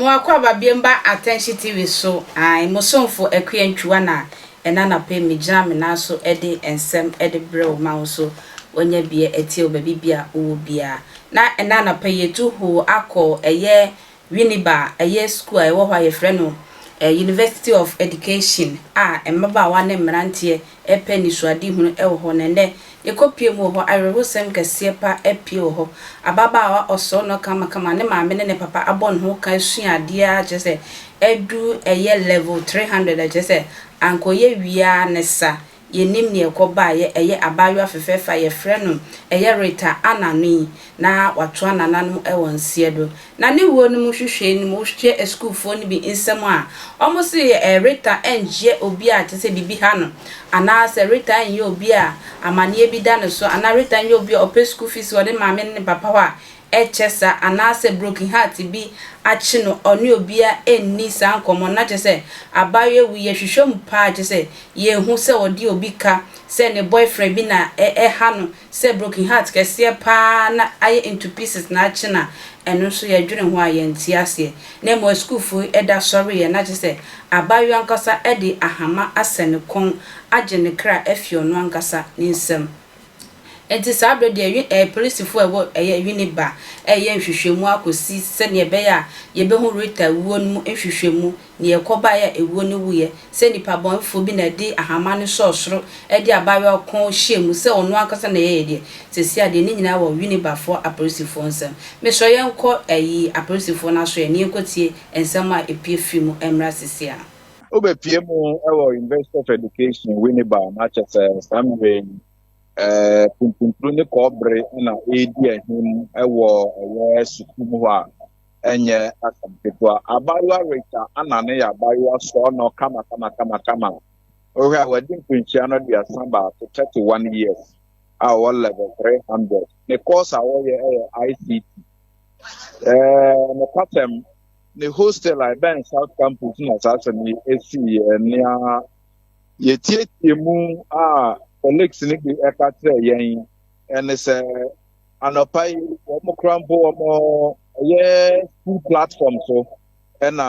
Mo akwaaba biemba Atɛnhye TV so ae mo somfo Akua Ntwiwa na ɛna anapa yi me gyina me nan so ɛde nsɛm ɛde brɛ wo ma wo nso wanya bia atie wo baabi bia wo wɔ biaa. Na ɛna anapa yi yɛtu hoo akɔ ɛyɛ Winneba a ɛyɛ sukuu a ɛwɔ hɔ a wɔfrɛ no University of Education a mmabaawa ne mmeranteɛ repɛ anisoadehunu wɔ hɔ no, ɛnnɛ yɛkɔpue mu wɔ hɔ, awerɛhosɛm kɛseɛ pa apue wɔ hɔ. Ababaawa ɔsɔɔ no kamakama, ne maame ne ne papa abɔ ne ho ka asua adeɛ ara kyerɛ sɛ aduru ɛyɛ level three hundred, ɛkyerɛ sɛ anka ɔyɛ wie ara ne sa. Yɛnnim nea ɛkɔ baeɛ, ɛyɛ abaayewa fɛfɛɛfɛ a yɛfrɛ no ɛyɛ Rita Anna no yi, na watoa nananom wɔ nseɛ do. Na ne wuo no mu hwehwɛɛ no mu hwehwɛɛ asukuufoɔ no bi nsam a, wɔn se ɛɛ Rita nnyɛ obi a kyerɛ sɛ biribi ha no, anaa sɛ Rita nnyɛ obi a amaneɛ bi da ne so, anaa Rita nnyɛ obi a ɔpɛ sukuu fees wɔ ne maame ne ne papa hɔ a ɛkyɛ saa anaasɛ broken heart bi akye no ɔne obiara nni saa nkɔmmɔ no na kyerɛ sɛ abaayewa wu yɛhwehwɛ mu paa kyerɛ sɛ yɛhu sɛ ɔde obi ka sɛ ne boyfriend bi na ɛha no sɛ broken heart kɛseɛ paa na ayɛ into pieces na akye no a ɛno nso yɛdwene ho a yɛnte aseɛ na mmom asukuufoɔ yi da sɔreeɛ na kyerɛ sɛ abaayewa ankasa de ahama asɛ ne kɔn agye ne kra afi ɔno ankasa ne nsam. Enti saa bere deɛ ɛɛ polisifo a ɛwɔ ɛyɛ Winneba reyɛ nhwehwɛmu akɔsi sɛnea ɛbɛyɛ a yɛbɛhu Rita wuo no mu nhwehwɛmu, nea ɛkɔbaeɛ a ewuo no wuiɛ, sɛ nipa bɔnefoɔ bi na ɛde ahama no sɔɔ soro de abaayewa ɔko hyɛɛ mu sɛ ɔno ankasa na ɛyɛeɛ deɛ, seesei adeɛ no nyinaa wɔ Winnebafoɔ apolisifoɔ nsam. Mesrɛ yɛnkɔ ɛyi apolisifoɔ no aso ɛ na yɛnkɔtie nsɛm a ɛpue firi mu mmra seesei a. Wobɛpue mu wɔ University of Education, Winneba, na kyɛ sɛ saa mmerɛ yi eh, puntuntunu ne kɔɔbere na ɛredi ahim wɔ ɛyɛ sukuu mu hɔ a ɛnyɛ asɛm ketewa. Abaayewa Rachel Anna no yɛ abaayewa sɔɔ no kama kama kama kama. Wohwɛ a wadi mfinhyia no aduasa baako, 31 years, a ɔwɔ level 300. Ne course a wɔyɛ yɛ ICT. Eh, nokwasɛm Ne hostel a ɛbɛn South Campus na saa asɛm yi siiɛ. Nea yɛtiatia mu a colleagues no bi ɛka kyerɛ yɛn ɛne sɛ anɔpa yi wɔn kora mpo wɔn ɛyɛ school platform so ɛna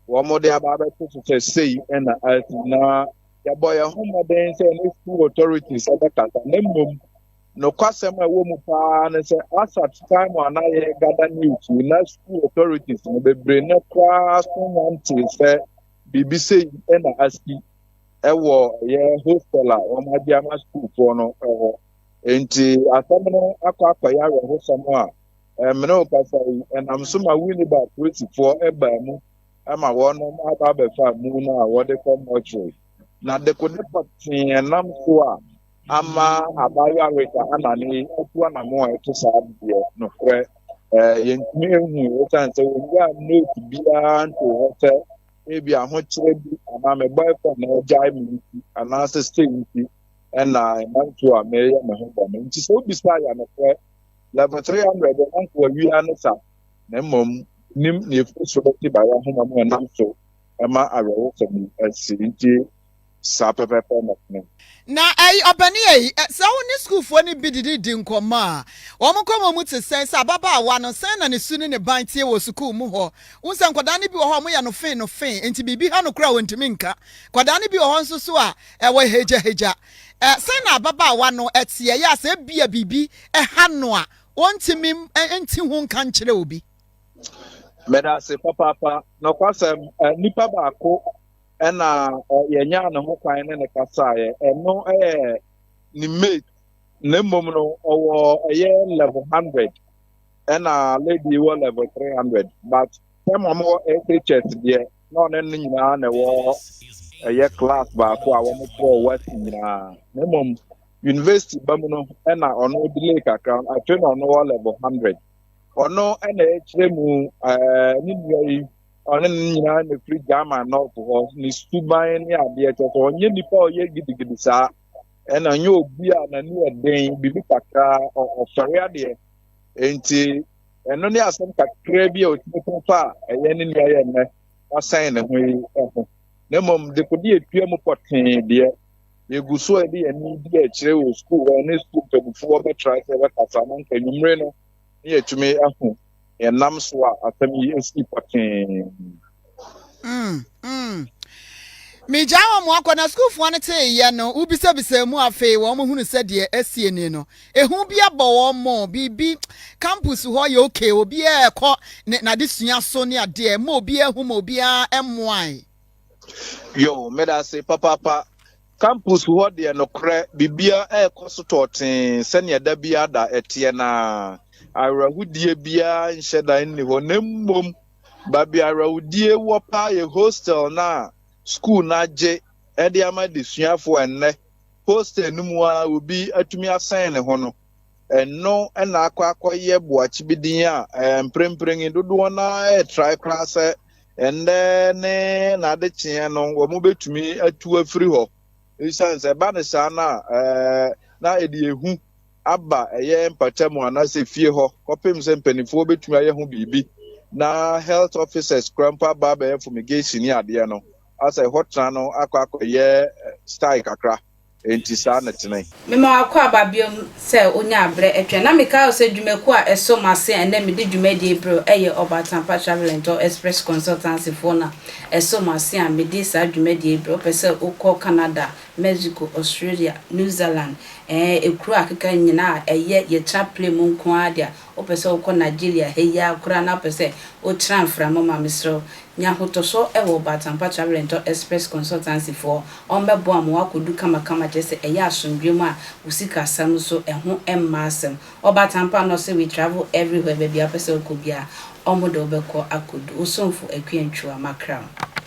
wɔn de aba abɛto so sɛ sei ɛna asi na yɛbɔ yɛn ho mmɔden sɛ ne school authorities ɛbɛkasa na mmom Nokwasɛm a ɛwɔ mu paa ne sɛ Asat time a na yɛ gada news yi na school authorities no bebree no koraa so nantee sɛ biribi sɛ yi na asi ɛwɔ ɛyɛ hostel a wɔn agye ama sukuufoɔ no ɛwɔ. Enti asɛm no akɔ akɔyɛ awerɛhosɛm a ɛmene wo kasa yi ɛnam so ma Winneba polisifoɔ ɛbaa mu ama wɔnom aba abɛfa mu no a wɔde kɔ mortuary. Na dekode pɔtee ɛnam so a ama abaayewa Rita Annan yi atu anammɔn a ɛte saa deɛ nokorɛ yɛntumi nhu ɛsiane sɛ wɔnyaa note biara ntoo hɔ sɛ ebi ahokyerɛ bi anaa me boyfriend na ɔgyae me nti anaasɛ sei nti ɛna ɛma nsuo a meyɛ me ho bɔne nti sɛ wobisa yɛ nokorɛ level 300 ɛna nka wawia ne sa na mmom nim ne ɛfiri so bɛte baeɛ ahoma mu ɛnam so ɛma awerɛhosɛm yi asi nti Saa pɛpɛɛpɛ na ɛne. Na ɛy, ɔbɛneɛ yi, ɛ, sɛ wo ne sukuufoɔ no bi didi di nkɔmmɔ a, wɔn nkɔmmɔ mu te sɛn? Sɛ ababaawa no, sɛn na ne su ne ne ban teɛ wɔ sukuu mu hɔ? Wohu sɛ nkwadaa no bi wɔ hɔ a wɔyɛ no fee no fee, enti biribi ha no koraa a wɔntumi nka. Nkwadaa no bi wɔ hɔ nso so a, ɛ, wɔahagyahagya. Ɛ, sɛn na ababaawa no teɛ? Ɛyɛ a sɛ ebia biribi ha no a, ɔntumi nte ho nka nkyerɛ obi. Meda ase papaapa. Nokwasɛm, ɛ, nipa baako ɛna yɛnyaa ne ho kwan ne ne kasaeɛ ɛno yɛ ne mate na mmom no ɔwɔ ɛyɛ level hundred ɛna lady wɔ level three hundred but sɛm wɔn wɔ SHS deɛ na ɔne no nyinaa na ɛwɔ ɛyɛ class baako a wɔn kɔ west nyinaa na mmom university ba mu no ɛna ɔno delay kakra afei na ɔno wɔ level hundred ɔno ɛna ɛkyerɛ mu ɛɛ ne nua yi. ɔne no nyinaa na ɛfiri German nɔɔfo hɔ ne suban ne adeɛ kyɛ sɛ ɔnyɛ nipa ɔyɛ gidigidi saa ɛna ɔnyɛ obi a n'ani yɛ den biribi kakraa ɔfɛre adeɛ nti ɛno ne asɛm kakraa bi a ɔtumi ko fa a ɛyɛ ne nua yɛ nnɛ ɔsɛn ne ho yi ho na mmom dekode atua mu pɔtee deɛ yɛgu so a ɛde yɛne di akyerɛ wɔ sukuu hɔ ne sukuu mpamufoɔ bɛtra sɛ bɛkasa no nka nwummere no na yɛatumi ahu nea ɛnam so a asɛm yi asii pɔtee. Mm, mm. Migyaa wɔn akɔ, na sukuufoɔ no tee yɛ no, wobisabisaa mu afei wɔn hunu sɛ deɛ asie ni no. Ehu bi abɔ wɔn mo, biribi, campus hɔ yɛ okay, obiara ɛkɔ ne n'adesua so ne adeɛ, ma obiara hu ma obiara mmoae. Yo, meda ase papaapa. Campus hɔ deɛ nokorɛ biribiara rekɔ so tɔɔtee sɛdeɛ da biara da ɛteɛ no ara. Awerɛhodie biara nhyɛ da nni hɔ na mmom baabi a awerɛhodie wɔ paa yɛ hostel no a sukuu no agye de ama adesuafoɔ ɛnnɛ. Hostel no mu ara obi atumi asɛn ne ho no. ɛno na akɔ akɔyɛ boakyebe din a eh, mprempren yi dodoɔ no ara retrae koraa sɛ ɛnnɛ ne n'ade kyeɛ no wɔbɛtumi atu afiri hɔ ɛsiane sɛ ɛba ne saa no a eh, na ɛde ehu aba ɛyɛ mpata mu anaasɛ fie hɔ kɔpem sɛ mpanimfoɔ bɛtumi ayɛ ho biribi na health officers kora mpo aba abɛyɛ fumigation ne adeɛ no asɛ hɔ tena no akɔ akɔyɛ eh, style kakra Enti saa na ɛtene. Mema w'akoa aba bio sɛ ɔnyaa berɛ twɛn. Na mekae wo sɛ dwumakuo a ɛso m'ase a ɛnnɛ medi dwumadie berɛ ɛyɛ Ɔbatampa Travel and Tour Express Consultancy foɔ na ɛso m'ase a medi saa dwumadie berɛ wopɛ sɛ wokɔ Canada, Mexico, Australia, New Zealand, ɛɛ, ɛkuro a akeka nyinaa a ɛyɛ yɛtra plane mu nko ara deɛ a, Wopɛ sɛ wokɔ Nigeria ha yi ara koraa na wopɛ sɛ wotra mframa mu a, mesrɛ wo, nya ahotɔsɔ wɔ Batampa Travel and Tour Express Consultancy foɔ. Wɔbɛboa ma woakɔdu kamakama kyerɛ sɛ ɛyɛ asomdwoeɛ mu a wo sikasɛm nso ɛho mma asɛm. Wɔ Batampa no wɔse we travel everywhere, baabi a wopɛ sɛ wokɔ biara wɔde wo bɛkɔ akɔdu. Wo somfo Akua Ntua, Macram.